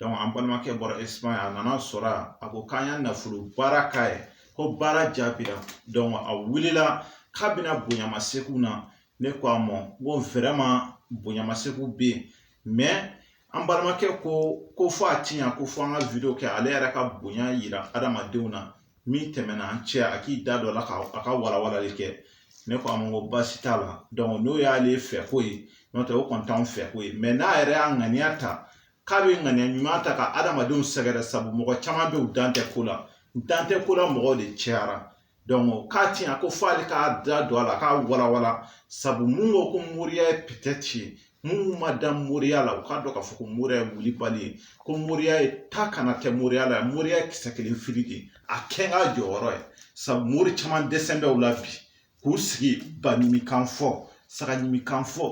an balimakɛ bɔra Espagne a nana sɔrɔ a ko k'an y'a nafolo baara k'a ye ko baara jaabira dɔnku a wulila k'a bɛna bonyamasegin na ne ko a ma ko vraiment bonyamasegin bɛ yen mɛ an balimakɛ ko fo a ti ɲa ko fo an ka video kɛ ale yɛrɛ ka bonya yira adamadenw na min tɛmɛna an cɛ a k'i da dɔ la k' a ka walawalali kɛ ne ko a ma ko baasi t'a la dɔnku n'o y'ale fɛ ko ye n'o tɛ o kɔni t'an fɛ ko ye mɛ n'a yɛrɛ y'a ŋaniya ta k'a bɛ ŋaniya ɲuman ta ka adamadenw sɛgɛrɛ sabu mɔgɔ caman bɛ u dan tɛ ko la u dan tɛ ko la mɔgɔw de cayara dɔnku k'a ti ɲa ko fo ale k'a da don a la k'a walawala sabu mun ko ko moriya ye peut-être minnu ma da moriya la u k'a dɔn k'a fɔ ko moriya ye wulibali ye ko moriya ye ta kana kɛ moriya la moriya ye kisɛ kelen fili de a kɛ n ka jɔyɔrɔ ye sabu mori caman dɛsɛ bɛ u la bi k'u sigi ba ɲimi kan fɔ saga ɲimi kan fɔ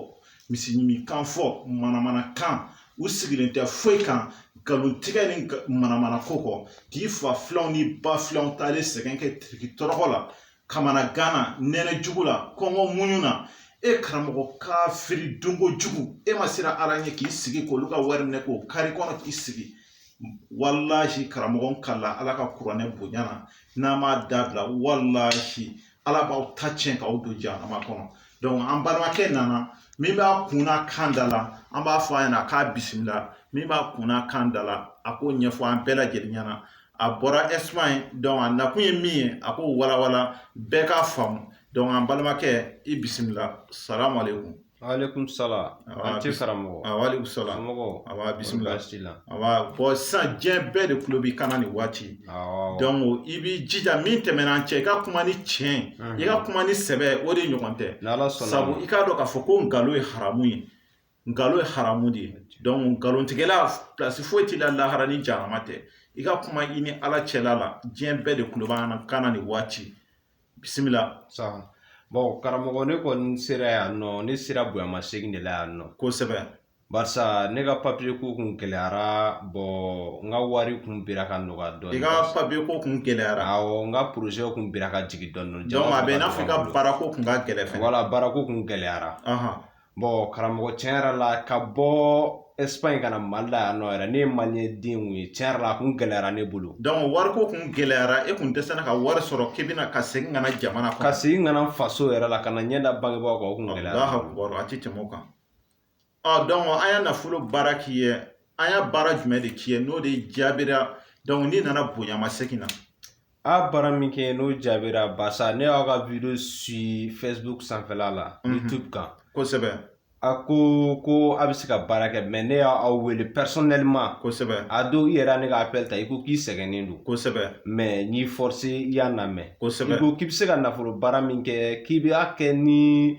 misi ɲimi kan fɔ manamana kan u sigilen tɛ foyi kan nkalon tigɛ ni manamana ko kɔ k'i fa filanw ni ba filanw taalen sɛgɛn kɛ tiriki tɔrɔkɔ la kamanagan na nɛnɛ jugu la kɔngɔ muɲu na e karamɔgɔ kafiri dunko jugu e ma siran ala ɲɛ k'i sigi k'olu ka wari minɛ k'o kari kɔnɔ k'i sigi walahi karamɔgɔ n kalila Ala ka kuranɛ bonya na n'a m'a dabila walahi Ala b'aw ta tiɲɛ k'aw don jahanama kɔnɔ dɔnku an balimakɛ nana min b'a kun n'a kan da la an b'a fɔ a ɲɛna a k'a bisimila min b'a kun n'a kan da la a k'o ɲɛfɔ an bɛɛ lajɛlen ɲɛna a bɔra Espagne dɔnku a nakun ye min ye a k'o walawala bɛɛ k'a faamu dɔnku an balimakɛ i bisimila salamu aleyikumu Aleyikumu salamu an tɛ karamɔgɔ a salamu somɔgɔw bisimila awɔ bɔn sisan diɲɛ bɛɛ de tulo b'i kan na nin waati dɔnku i b'i jija min tɛmɛna an cɛ i ka kuma ni tiɲɛ i ka kuma ni sɛbɛ o de ɲɔgɔn tɛ sabu i k'a dɔn k'a fɔ ko nkalon ye haramu ye nkalon ye haramu de ye dɔnku nkalontigɛla plasi foyi t'i la lahara ni jahanama tɛ i ka kuma i ni ala cɛla la diɲɛ bɛɛ de tulo b'an kan na nin waati bisimila saha bɔn karamɔgɔ ne kɔni sera yan nɔ ne sera bonyama segin de la yan nɔ kosɛbɛ barisa ne ka papiye ko kun gɛlɛyara bɔn n ka wari kun bira ka nɔgɔya dɔɔni i ka papiye ko kun gɛlɛyara awɔ n ka porozɛ kun bira ka jigin dɔɔni dɔnku a bɛ i n'a fɔ i ka baarako kun ka gɛlɛn fɛnɛ wala baarako kun gɛlɛyara karamɔgɔ tiɲɛ yɛrɛ la ka bɔ Espagne ka na mali la yan nɔ yɛrɛ ne ye maliyɛn den ye tiɲɛ yɛrɛ la a kun gɛlɛyara ne bolo dɔnku wariko kun gɛlɛyara e kun dɛsɛra ka wari sɔrɔ k'i bɛna ka segin ka na jamana ka segin ka na faso yɛrɛ la ka na ɲɛ da bangebaaw kan o kun gɛlɛyara a tɛ tɛmɛ o kan dɔnku an y'a nafolo baara k'i ye an y'a baara jumɛn de k'i ye n'o de jaabira dɔnku n'i nana bonyamasegin na a baara min kɛ n'o jaabira barisa ne y'aw ka video si facebook sanfɛla la youtube kan kosɛbɛ a ko ko a bɛ se ka baara kɛ mais ne y'aw wele personnellement kosɛbɛ a don i yɛrɛ y'a ne ka appel ta i ko k'i sɛgɛnnen don kosɛbɛ mais n'i forcé i y'an lamɛn kosɛbɛ i ko k'i bɛ se ka nafolo baara min kɛ k'i b'a kɛ ni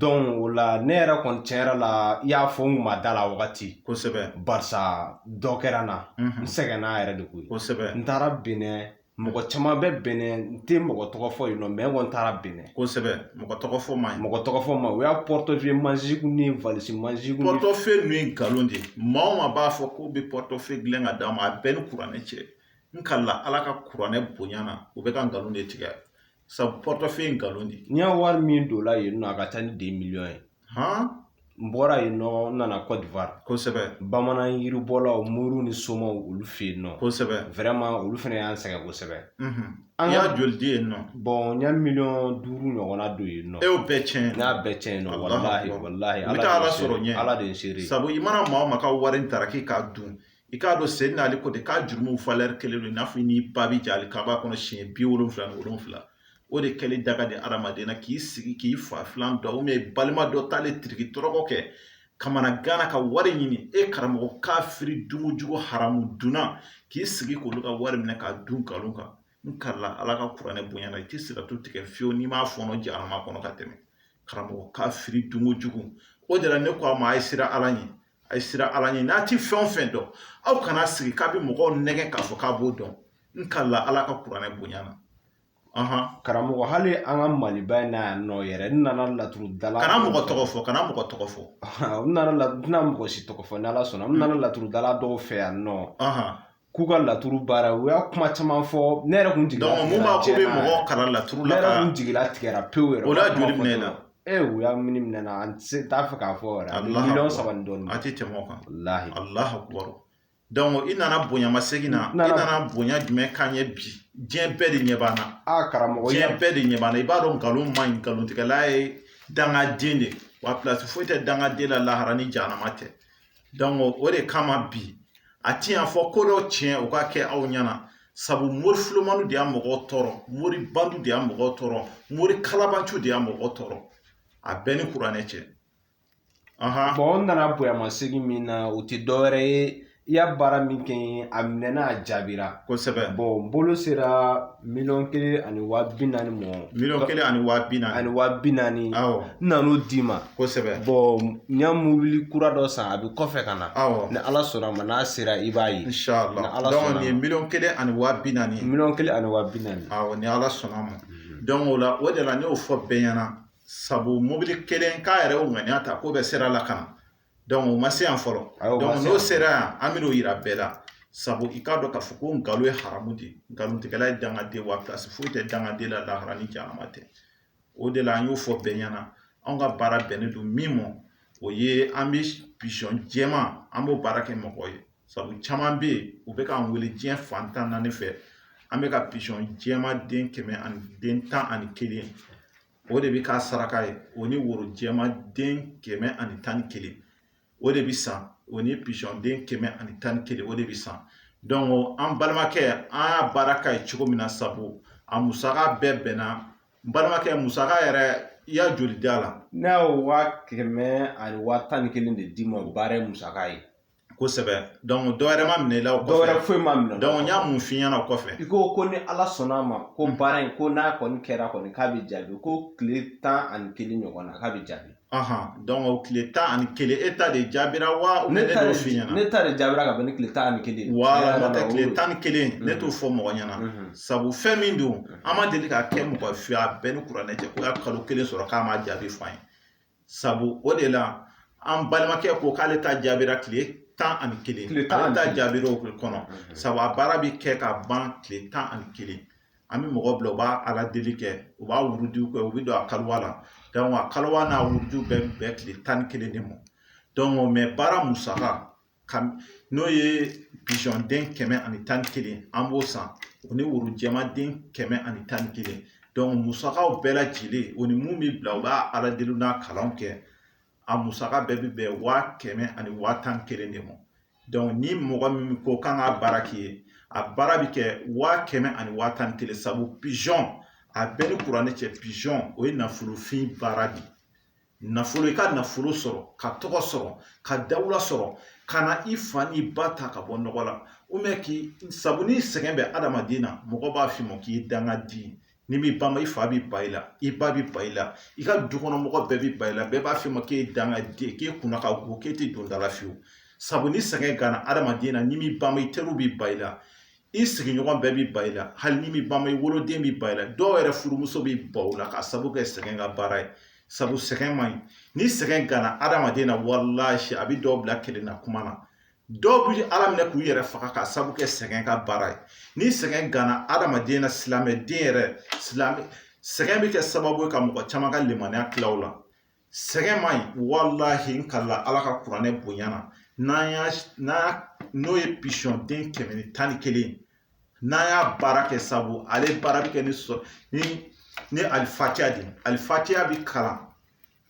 o la ne yɛrɛ kɔni tiɲɛ yɛrɛ la i y'a fɔ n kun ma da la wagati kosɛbɛ barisa dɔ kɛra n na n sɛgɛnna yɛrɛ de koyi kosɛbɛ n taara Benin mɔgɔ caman bɛ Benin n tɛ mɔgɔ tɔgɔ fɔ yen nɔ mais n kɔni taara Benin kosɛbɛ mɔgɔ tɔgɔ fɔ man ɲi mɔgɔ tɔgɔ fɔ man ɲi u y'a portefeuille magique ni valise magique portefeuille ninnu ye nkalon de ye maa o maa b'a fɔ k'u bɛ portefeuille dilan ka d'a ma a bɛɛ ni kuranɛ cɛ n kalila ala ka kuranɛ bonya na u bɛ ka nkalon de tigɛ Sabu portefeuille ye nkalon de ye n y'a wari min don la yen nɔ a ka ca ni deux millions ye n bɔra yen nɔ n nana Côte d'Ivoire kosɛbɛ bamanan yiribɔlaw moriw ni somaw olu fɛ yen nɔ kosɛbɛ vraiment olu fana y'an sɛgɛn kosɛbɛ i y'a joli don yen nɔ bon n ye miliyɔn duuru ɲɔgɔnna don yen nɔ e y'o bɛɛ tiɲɛ n y'a bɛɛ tiɲɛ yen nɔ walahi walahi n bɛ taa ala sɔrɔ ɲɛ ala de ye n seere sabu i mana maa o maa ka wari t'a ra k'i k'a dun i k'a dɔn seyidina Ali ko ten k'a jurumu valeur kelen don i n'a fɔ i n'i ba bɛ jɛn alikaaba kɔnɔ siɲɛ bi wolonwula ni wolonwula o de kɛli da ka di adamaden na k'i sigi k'i fa filan dɔ ou bien balima dɔ taalen tiriki tɔrɔkɔ kɛ kamanagan na ka wari ɲini e karamɔgɔ kafiri dunkojugu haramu dunna k'i sigi k'olu ka wari minɛ k'a dun nkalon kan n kalila ala ka kuranɛ bonya na i tɛ siratu tigɛ fiyewu n'i m'a fɔnɔ jahanama kɔnɔ ka tɛmɛ karamɔgɔ kafiri dunkojugu o de la ne ko a ma a ye siran ala ɲɛ a ye siran ala ɲɛ n'a ti fɛn o fɛn dɔn aw kana sigi k'a bɛ mɔgɔw nɛgɛn k'a fɔ k'a b'o dɔn n kalila ala ka kuranɛ bonya na karamɔgɔ hali an ka maliba in na yan nɔ yɛrɛ n nana laturu dala kana mɔgɔ tɔgɔ fɔ kana mɔgɔ tɔgɔ fɔ n nana la tɛna mɔgɔ si tɔgɔ fɔ n'ala sɔnna n nana laturu dala dɔw fɛ yan nɔ k'u ka laturu baara u y'a kuma caman fɔ ne yɛrɛ kun jigila tigɛra mun b'a ko bɛ mɔgɔ kalan laturu la ne yɛrɛ kun jigila tigɛra pewu yɛrɛ o la joli minɛna ee u y'a min minɛ n na an tɛ t'a fɛ k'a fɔ yɛrɛ miliyɔn saba ni dɔɔnin a tɛ tɛmɛ o kan walahi alahu akubaru donc i nana bonyamasegin na i nana bonya jumɛn k'an ye bi diɲɛ bɛɛ de ɲɛ b'an na a karamɔgɔ diɲɛ bɛɛ de ɲɛ b'an na i b'a dɔn nkalon man ɲi nkalontigɛla ye dangaden de wa pilasi foyi tɛ dangaden la lahara ni jahanama tɛ o de kama bi a ti yan fɔ ko dɔ tiɲɛ o ka kɛ aw ɲɛna sabu mori filomaniw de y'a mɔgɔw tɔɔrɔ mori bandiw de y'a mɔgɔw tɔɔrɔ mori kalabanciw de y'a mɔgɔw tɔɔrɔ a bɛɛ ni kuranɛ cɛ bon n nana bonyamasegin min na o tɛ dɔwɛrɛ ye i y'a baara min kɛ a minɛna a jaabira kosɛbɛ bon bolo sera Miliyɔn kelen ani waa bi naani mɔ miliyɔn kelen ani waa bi naani ani waa bi naani awɔ n nan'o d'i ma kosɛbɛ bon n y'a mobili kura dɔ san a bɛ kɔfɛ ka na awɔ ni ala sɔnna ma n'a sera i b'a ye ni ala sɔnna nin ye miliyɔn kelen ani waa bi naani miliyɔn kelen ani waa bi naani awɔ ni ala sɔnna ma dɔnku o la o de la ne y'o fɔ bɛɛ ɲɛna sabu mobili kelen k'a yɛrɛ y'o ŋaniya ta k'o bɛ sira la ka na o ma se yan fɔlɔ n'o sera yan an bɛn'o yira bɛɛ la sabu i k'a dɔn k'a fɔ ko nkalon ye haramu de nkalontigɛla ye dangaden wa plasi foyi tɛ dangaden la lahara ni jahanama tɛ o de la an y'o fɔ bɛɛ ɲɛna anw ka baara bɛnnen don min ma o ye an bɛ pizɔn jɛman an b'o baara kɛ mɔgɔ ye sabu caman bɛ yen u bɛ k'an wele diɲɛ fan tan naani fɛ an bɛ ka pizɔn jɛman den kɛmɛ ani den tan ani kelen o de bɛ k'a saraka ye o ni woro jɛman den kɛmɛ ani tan ni kelen o de bɛ san o ni pizɔn den kɛmɛ ani tan ni kelen o de bɛ san dɔnku an balimakɛ an y'a baara k'a ye cogo min na sabu a musaka bɛɛ bɛnna n balimakɛ musaka yɛrɛ i y'a joli d'a la ne y'o waa kɛmɛ ani waa tan ni kelen de d'i ma o baara ye musaka ye kosɛbɛ dɔnku dɔwɛrɛ ma minɛ i la o kɔfɛ dɔwɛrɛ foyi ma minɛ dɔnku n y'a mun f'i ɲɛna o kɔfɛ i ko ko ni ala sɔnna a ma ko hmm. baara in ko n'a kɔni kɛra kɔni k'a bɛ jaabi ko tile tan ani kelen ɲɔgɔn na k'a bɛ jaabi ahan dɔnku o tile tan ani kelen e ta de jaabira wa ne ta de f'i ɲɛna ne ta de jaabira ka bɛn ni tile tan ani kelen wala n'o tɛ tile tan ni kelen hmm. ne t'o fɔ mɔgɔ ɲɛna hmm. sabu fɛn min don an ma deli k'a kɛ mɔgɔ fɛ a bɛ n ni kuranɛ cɛ k'o y'a kalo kelen sɔrɔ k'a ma jaabi fɔ an ye sabu o de la an balimakɛ ko k'ale ta jaabira tile tan ani kelen tile tan ale ta jaabira o kɔnɔ mhm. sabu a baara bɛ kɛ ka ban tile tan ani kelen an bɛ mɔgɔ bila u b'a ala deli kɛ u b'a wurudiw kɛ u bɛ don a kaliwa la dɔnku a kaliwa n'a wurudiw bɛɛ bɛn tile tan ni kelen de ma dɔnku mɛ baara musaka ka n'o ye pizɔn den kɛmɛ ani tan ni kelen an b'o san o ni woro jɛman den kɛmɛ ani tan ni kelen dɔnku musakaw bɛɛ lajɛlen o ni mun bɛ bila u b'a ala deli n'a kalanw kɛ a musaka bɛɛ bɛ bɛn waa kɛmɛ ani waa tan ni kelen de ma dɔnku ni mɔgɔ min ko k'an ka baara k'i ye a baara bɛ kɛ waa kɛmɛ ani waa tan ni kelen sabu pizɔn a bɛ n ni kuranɛ cɛ pizɔn o ye nafolofin baara de ye nafolo i ka nafolo sɔrɔ ka tɔgɔ sɔrɔ ka dawula sɔrɔ ka na i fa ni ba ta ka bɔ nɔgɔ la ubiyɛn k'i sabu ni sɛgɛn bɛ adamaden na mɔgɔ b'a f'i ma k'i ye dangaden n'i m'i bama i fa bɛ ban i la i ba bɛ ban i la i ka dukɔnɔmɔgɔ bɛɛ bɛ ban i la bɛɛ b'a f'i ma k'e ye dangaden k'e kunna ka go k'e tɛ don da la fiyewu sabu ni sɛgɛn ganna adamaden na n'i m'i bama i teriw bɛ ban i la i sigiɲɔgɔn bɛɛ b'i ban i la hali ni min ba ma i woloden b'i ban i la dɔw yɛrɛ furumuso b'i ban u la k'a sabu kɛ sɛgɛn ka baara ye sabu sɛgɛn man ɲi ni sɛgɛn ganna adamaden na walahi a bɛ dɔw bila kelen na kuma na dɔw bɛ ala minɛ k'u yɛrɛ faga k'a sabu kɛ sɛgɛn ka baara ye ni sɛgɛn ganna adamaden na silamɛden yɛrɛ sɛgɛn bɛ kɛ sababu ye ka mɔgɔ caman ka limaniya tila u la sɛgɛn man ɲi walahi n kalila ala ka kuranɛ bonya na n'o ye pisɔn den kɛmɛ ni tan ni kelen n'an y'a baara kɛ sabu ale baara bɛ kɛ ni alifatiya de alifatiya bɛ kalan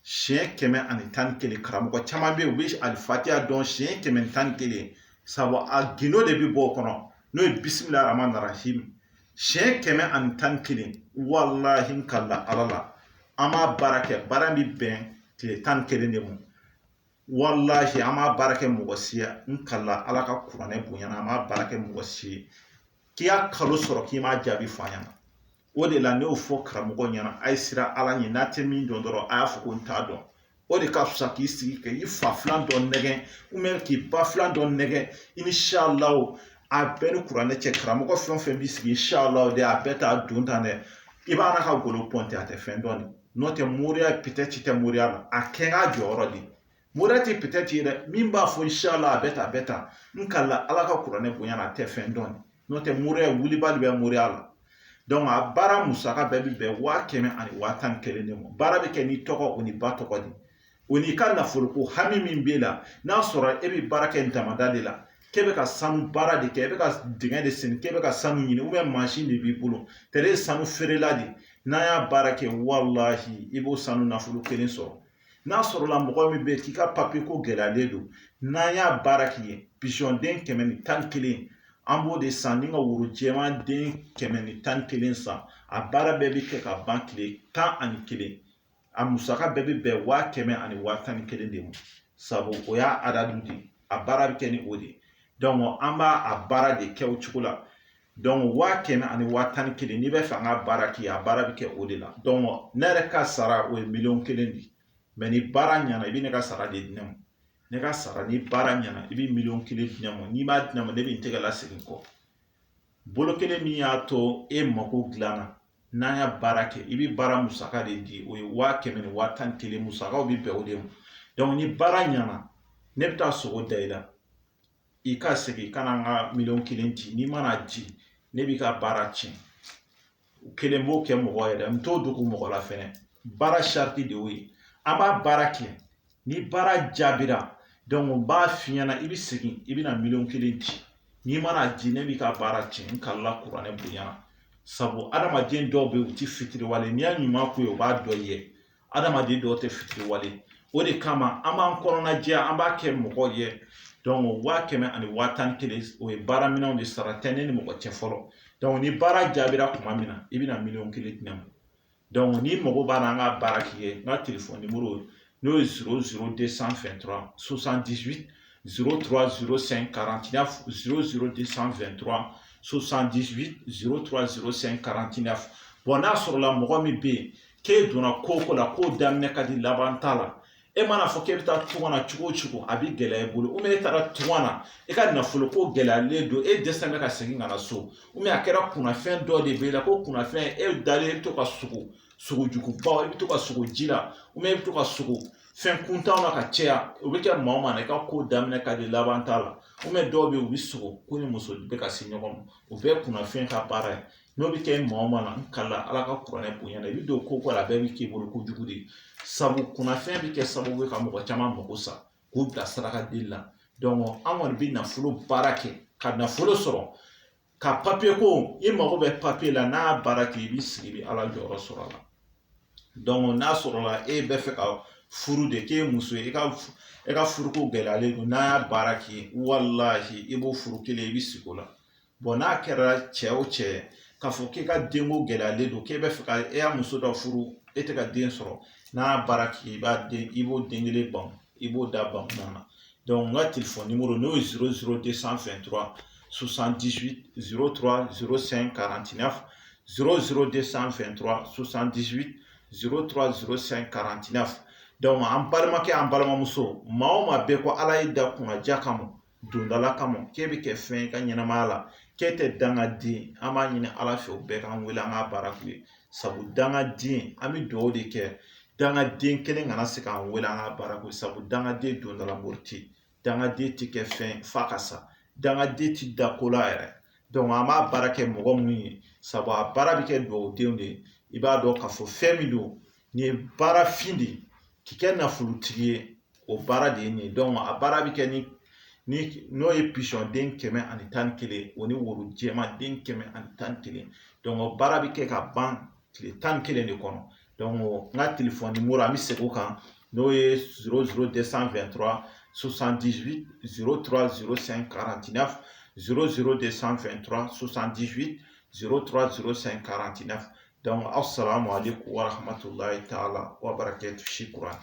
siɲɛ kɛmɛ ani tan ni kelen karamɔgɔ caman bɛ yen u bɛ alifatiya dɔn siɲɛ kɛmɛ ni tan ni kelen sabu a gindo de bɛ bɔ o kɔnɔ n'o ye bisimilahi rahmani rahim siɲɛ kɛmɛ ani tan ni kelen walahi n kalila ala la an b'a baara kɛ baara bɛ bɛn tile tan ni kelen de ma walahi an m'a baara kɛ mɔgɔ si ye n kalila ala ka kuranɛ bonya na an m'a baara kɛ mɔgɔ si ye k'i y'a kalo sɔrɔ k'i m'a jaabi fɔ an ɲɛna o de la ne y'o fɔ karamɔgɔ ɲɛna a ye siran ala ɲɛ n'a tɛ min dɔn dɔrɔn a y'a fɔ ko n t'a dɔn o de ka fisa k'i sigi ka i fa filan dɔ nɛgɛn k'i ba filan dɔ nɛgɛn inshallah a bɛɛ ni kuranɛ cɛ karamɔgɔ fɛn o fɛn b'i sigi inshallah de a bɛɛ t'a don tan dɛ i b'a ka golo pɔnte a tɛ fɛn dɔn de n'o tɛ moriya peut-être tɛ moriya la a kɛ k'a jɔyɔrɔ de moriya tɛ peut-être dɛ min b'a fɔ inshallah a bɛ ta a bɛ ta n kalila ala ka kuranɛ bonya na a tɛ fɛn dɔn n'o tɛ moriya wulibali bɛ moriya la a baara musaka bɛɛ bɛ bɛn waa kɛmɛ ani waa tan ni kelen de ma baara bɛ kɛ n'i tɔgɔ o n'i ba tɔgɔ de o n'i ka nafoloko hami min b'e la n'a sɔrɔ e bɛ baara kɛ damanda de la k'e bɛ ka sanu baara de kɛ e bɛ ka dingɛ de sen k'e bɛ ka sanu ɲini mansin de b'i bolo tɛrɛ ye sanu feerela de ye n'an y'a baara kɛ walahi i b'o sanu nafolo kelen sɔrɔ n'a sɔrɔla mɔgɔ min bɛ k'i ka papiye ko gɛlɛyalen don n'an y'a baara k'i ye pisɔnden kɛmɛ ni tan ni kelen an b'o de san ni ka woro jɛman den kɛmɛ ni tan ni kelen san a baara bɛɛ bɛ kɛ ka ban tile tan ani kelen a musaka bɛɛ bɛ bɛn waa kɛmɛ ani waa tan ni kelen de ma sabu o y'a adadu de a baara bɛ kɛ ni o de donc an b'a a baara de kɛ o cogo la waa kɛmɛ ani waa tan ni kelen n'i bɛ fɛ an ka baara k'i ye a baara bɛ kɛ o de la ne yɛrɛ ka sara o ye miliyɔn kelen de ye ni baara ɲɛna i bɛ ne ka sara de di ne ma ne ka sara ni baara ɲɛna i bɛ miliyɔn kelen di ne ma n'i m'a di ne ma ne bɛ n tɛgɛ lasegin kɔ bolo kelen min y'a to e mako dilanna n'an y'a baara kɛ i bɛ baara musaka de di o ye waa kɛmɛ ni waa tan ni kelen musakaw bɛ bɛn o de ma ni baara ɲɛna ne bɛ taa sɔngɔ da i la i ka segin ka na n ka miliyɔn kelen di n'i ma n'a di ne b'i ka baara tiɲɛ n kelen b'o kɛ mɔgɔ yɛrɛ n t'o dogo mɔgɔ la fɛnɛ baara sariti de y'o ye an b'a baara kɛ ni baara jaabira dɔnku n b'a f'i ɲɛna i bɛ segin i bɛna miliyɔn kelen di n'i ma n'a di ne b'i ka baara tiɲɛ n kalila kuranɛ bonya na sabu adamaden dɔw bɛ yen u ti fitiriwale n'i y'a ɲuman k'u ye u b'a dɔn i ye adamaden dɔw tɛ fitiriwale o de kama an b'an kɔnɔna jɛya an b'a kɛ mɔgɔ ye waa kɛmɛ ani waa tan ni kelen o ye baara minɛnw de sara tɛ ne ni mɔgɔ cɛ fɔlɔ ni baara jaabira tuma min na i bɛna miliyɔn kelen di ne ma n'i mago b'a la an ka baara k'i ye n ka telefɔni nimoro n'o ye zéro zéro deux cent vingt-trois soixante-dix-huit zéro trois zéro cinq quarante-neuf zéro zéro deux cent vingt-trois soixante-dix-huit zéro trois zéro cinq quarante-neuf n'a sɔrɔla mɔgɔ min bɛ yen k'e donna ko o ko la k'o daminɛ ka di laban t'a la e mana fɔ k'e bɛ taa tunga na cogo o cogo a bɛ gɛlɛya i bolo ou bien e taara tunga na i ka nafolo ko gɛlɛyalen don e dɛsɛlen bɛ ka segin ka na so ou bien a kɛra kunnafɛn dɔ de b'e la ko kunnafɛn e dalen i bɛ to ka sogo sogo jugubaw i bɛ to ka sogo ji la ou bien i bɛ to ka sogo fɛn kuntanw na ka caya o bɛ kɛ maa o maa na i ka ko daminɛ ka di laban t'a la ou bien dɔw bɛ yen u bɛ sogo k'u ni muso bɛ ka se ɲɔgɔn ma o bɛɛ ye kunnafɛn ka baara ye n'o bɛ kɛ maa o maa la n kalila Ala ka kuranɛ bonya la i bɛ don ko o ko la a bɛɛ bɛ k'i bolo kojugu de ye sabu kunnafɛn bɛ kɛ sababu ye ka mɔgɔ caman mago sa k'u bila saraka deli la an kɔni bɛ nafolo baara kɛ ka nafolo sɔrɔ ka papiye ko i mago bɛ papiye la n'an y'a baara kɛ i b'i sigi i bɛ Ala jɔyɔrɔ sɔrɔ a la n'a sɔrɔla e bɛ fɛ ka furu de k'e muso ye i ka e ka furuko gɛlɛyalen don n'an y'a baara k'i ye walahi i b'o furu kelen i bɛ sigi o la bɔn n'a kɛra cɛ o cɛ k'a fɔ k'i ka denko gɛlɛyalen don k'e bɛ fɛ ka e y'a muso dɔ furu e tɛ ka den sɔrɔ n'an y'a baara k'i ye i b'a den i b'o den kelen ban i b'o da ban na dɔnku n ka telefɔni nimoro n'o ye zéro zéro deux cent vingt-trois soixante-dix-huit zéro trois zéro cinq quarante-neuf zéro zéro deux cent vingt-trois soixante-dix-huit zéro trois zéro cinq quarante-neuf dɔnku an balimakɛ an balimamuso maa o maa bɛɛ ko ala y'e da kunnaja kama dondala kama k'e bɛ kɛ fɛn y'e ka ɲɛnamaya la k'e tɛ dangaden an b'a ɲini ala fɛ u bɛɛ k'an wele an k'a baara k'u ye sabu dangaden an bɛ dugawu de kɛ dangaden kelen kana se k'an wele an k'a baara k'u ye sabu dangaden dondala mori tɛ yen dangaden tɛ kɛ fɛn f'a ka sa dangaden tɛ da ko la yɛrɛ an b'a baara kɛ mɔgɔ minnu ye sabu a baara bɛ kɛ dugawudenw de ye i b'a dɔn k'a fɔ fɛn min don nin ye baara fin de ye k'i kɛ nafolotigi ye o baara de ye nin ye a baara bɛ kɛ ni ni n'o ye pisɔn den kɛmɛ ani tan ni kelen o ni woro jɛman den kɛmɛ ani tan ni kelen o baara bɛ kɛ ka ban tile tan ni kelen de kɔnɔ n ka telefɔni nimoro an bɛ segin o kan n'o ye zéro zéro deux cent vingt-trois soixante-dix-huit zéro trois zéro cinq quarante-neuf zéro zéro deux cent vingt-trois soixante-dix-huit zéro trois zéro cinq quarante-neuf aw sara ma ale ko warato la i t'a la ko a bara kɛ si kura